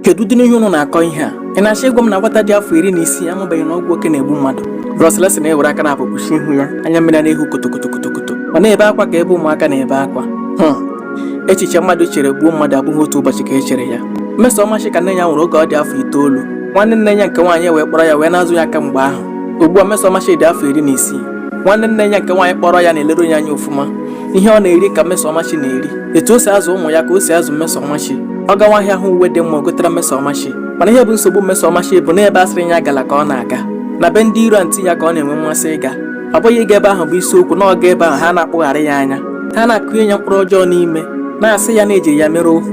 kedu ụdị n'ihe ụnụ na-akọ ihe a ị na-achọ ịgwa m na nwata dị afọ iri na isii amabeghị na ọgwụ oke na-egbu mmadụ Bro Celestin ewere aka naabọ kpuchie ihu ya anya mmiri na-ehu kotokotokotokoto ọ na-ebe akwa ka ebe ụmụaka na-ebe akwa hmm. echiche mmadụ chere gbuo mmadụ abụghị otu ụbọchị ka e chere ya Mmesomachi ka nne ya nwụrụ oge ọ dị afọ itoolu nwanne nne ya nke nwaanyị wee kpọrọ ya wee na-azụ ya kamgbe ahụ ugbu a Mmesomachi dị afọ iri na isii nwanne nne ya nke nwaanyị kpọrọ ya na-eleru ya anya ofụma ihe ọ na-eri ka Mmesomachi na-eri etu o si azụ ụmụ ya ka o si azụ Mmesomachi ọ gawa ahịa hụ uwe dị mma gotara Mmesomachi mana ihe bụ nsogbu Mmesomachi bụ na ebe a sịrị ya agala ka ọ na-aga na be ndị iro antị ya ka ọ na-enwe mmasị ịga ọ bụghị ịga ebe ahụ bụ isiokwu na ọ gaa ebe ahụ ha na-akpụgharị ya anya ha na-akụnye ya mkpụrụ ọjọọ n'ime na-asị ya na e jiri ya mere ohu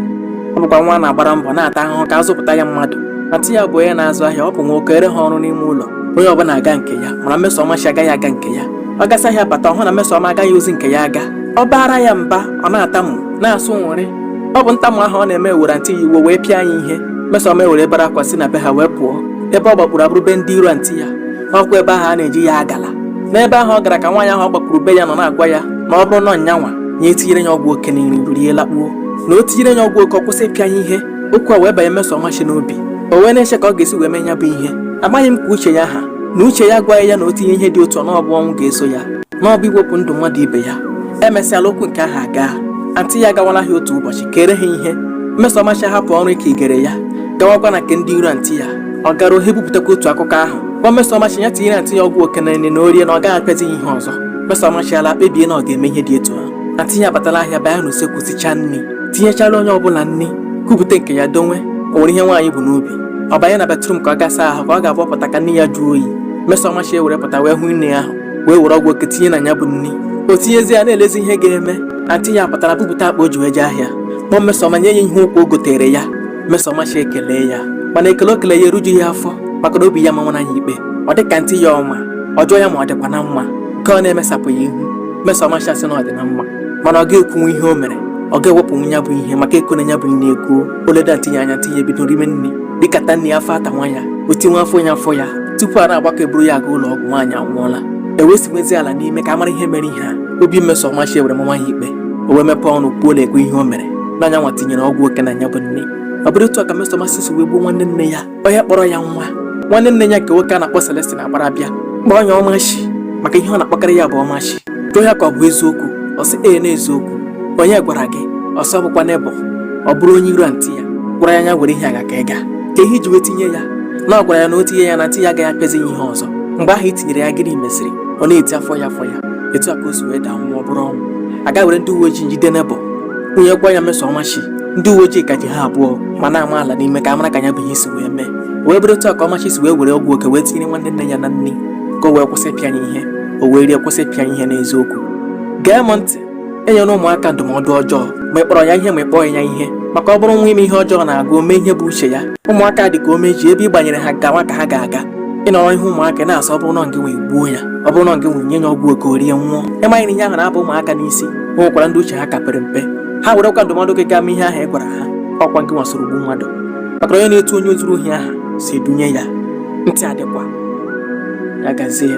ọ bụkwa nwa a na-agbara mbọ na-ata ahụhụ ka a zụpụta ya mmadụ antị ya bụ onye na-azụ ahịa ọ bụ na o keere ha ọrụ n'ime ụlọ onye ọbụla agaa nke ya mana Mmesomachi agaghị aga nke ya ọ gasịa ahịa bata ọ hụ na Mmesoma agaghị ozi nke ya aga ọ baara ya mba ọ na-atamu na-asụ nwụrị ọ bụ ntamu ahụ ọ na-eme were antị ya iwe o wee pịa nya ihe Mmesoma ewere bere akwa si na be ha wee pụọ ebe ọ gbakpuru abụrụ be ndị iro antị ya ọkwa ebe ahụ a na-asị ya agala n'ebe ahụ ọ gara ka nwaanyị ahụ ọ gbakpuru be ya nọ na-agwa ya na ọ bụrụ na ọ nyanwa nya etinyere ya ọgwụ oke na nri o rie lakpuo na o tinyere ya ọgwụ oke ọ kwụsị ịpịa ya ihe okwu a wee banye Mmesomachi n'obi o wee na-eche ka ọ ga-esi wee mee ya bụ ihe amaghị m ka uche ya ha na uche ya agwaghị ya na o tinye ihe dị otu a na ọ bụ ọnwụ ga-eso ya na ọ bụ iwepụ ndụ mmadụ ibe ya emesịala okwu nke ahụ aga antị ya agawala ahịa otu ụbọchị keere ha ihe Mmesomachi hapụ ọrụ nke e keere ya gawakwa na nke ndị iro antị ya ọ garuo ha ebupụtakwa otu akụkọ ahụ gwa Mmesomachi ya tinyere antị ya ọgwụ oke na nri na o rie na ọ gaghị apịazi ya ihe ọzọ Mmesomachi alaa kpebie na ọ ga-eme ihe dị etu ahụ antị ya abatala ahịa baa n'usekwu sichaa nri tinyechara onye ọbụla nri kupụta nke ya donwe o nwere ihe nwaanyị bu n'obi ọ banye na bathroom ka ọ ga saa ahụ ka ọ ga-abụ ọ pụta ka nri ya jụọ oyi Mmesomachi ewere pụta wee hụ nri ahụ wee were ọgwụ oke tinye na ya bụ nri o tinyezie ya na-elezi ihe ga-eme antị ya pụtara bupụta akpa o ji wee jee ahịa kpọọ Mmesoma nye ya ihe ụkwụ o gotere ya Mmesomachi ekelee ya mana ekele o kele ya erujughị ya afọ maka na obi ya manwara ya ikpe ọ dị ka antị ya ọ ma ọ jụọ ya ma ọ dịkwa na mma nke ọ na-emesapụghị ihu Mmesomachi asị na ọ dị na mma mana ọ ga-ekwunwu ihe o mere ọ ga-ewepụnwu ya bụ ihe maka e kuola ya bụ nri ekuo o leda antị ya anya antị ya ebido rime nri rikata nri ya afọ atanwa ya o tinwe afọ ya afọ ya tupu a na-agbakọ eburu ya aga ụlọ ọgwụ nwaanyị anwụọla e wee sinwezie ala n'imi ka a mara ihe mere ihe a obi Mmesomachi ewere manwa ya ikpe o wee mepee ọnụ kwuo na-ekwe ihe o mere na nyanwa tinyere ọgwụ oke na ya bụ nri ọ bụrụ otu a ka Mmesomachi si wee gbuo nwanne nne ya onye kpọrọ ya nwa nwanne nne ya nke nwoke a na-akpọ Celestin agbara bịa kpọọ ya Ọmachi maka ihe ọ na-akpọkarị ya bụ Ọmachi jụọ ya ka ọ bụ eziokwu ọ sị ee n'eziokwu onye gwara gị ọ sị ọ bụkwa neighbour ọ bụrụ onye iro antị ya gwara ya nya were ihe aga ka ị ga kee ihe i ji wee tinye ya na ọ gwara ya na o tinye ya na antị ya agaghị apịazi ya ihe ọzọ mgbe ahụ i tinyere ya gịnị meziri ọ na-eti afọ ya afọ ya etu a ka o si wee daa nwụọ ọ bụrụ ọnwụ a gaa were ndị uwe ojii jide neighbour onye gwa ya meso ọmachi ndị uwe ojii ka ji ha abụọ ma na-ama ala n'ime ka a mara ka ya bụ ihe si wee mee wee bụrụ otu a ka ọmachi si wee were ọgwụ oke wee tinyere nwanne nne ya na nri ka o wee kwụsị ịpịa ya ihe o wee rie kwụsị ịpịa ihe n'eziokwu gee m ntị enyere ụmụaka ndụmọdụ ọjọọ ma ị kpọrọ ya ihe ma ị kpọghị ya ihe maka ọ bụrụ nwa ime ihe ọjọọ na-agụ o mee ihe bụ uche ya ụmụaka dị ka ome ji ebe ị gbanyere ha gawa ka ha ga-aga ị nọrọ ihu ụmụaka na-asị ọ bụrụ na ngị wee gbuo ya ọ bụrụ na ngị wee nye ya ọgwụ oke o rie nwụọ ị maghị na ihe ahụ na-aba ụmụaka n'isi o nwekwara ndị uche ha ka pere mpe ha werekwa ndụmọdụ gị gaa mee ihe ahụ ị gwara ha ọkwa ngị nwa soro gbuo mmadụ maka onye na-etu onye zuru ohi aha si dunye ya ntị adịkwa ya gazie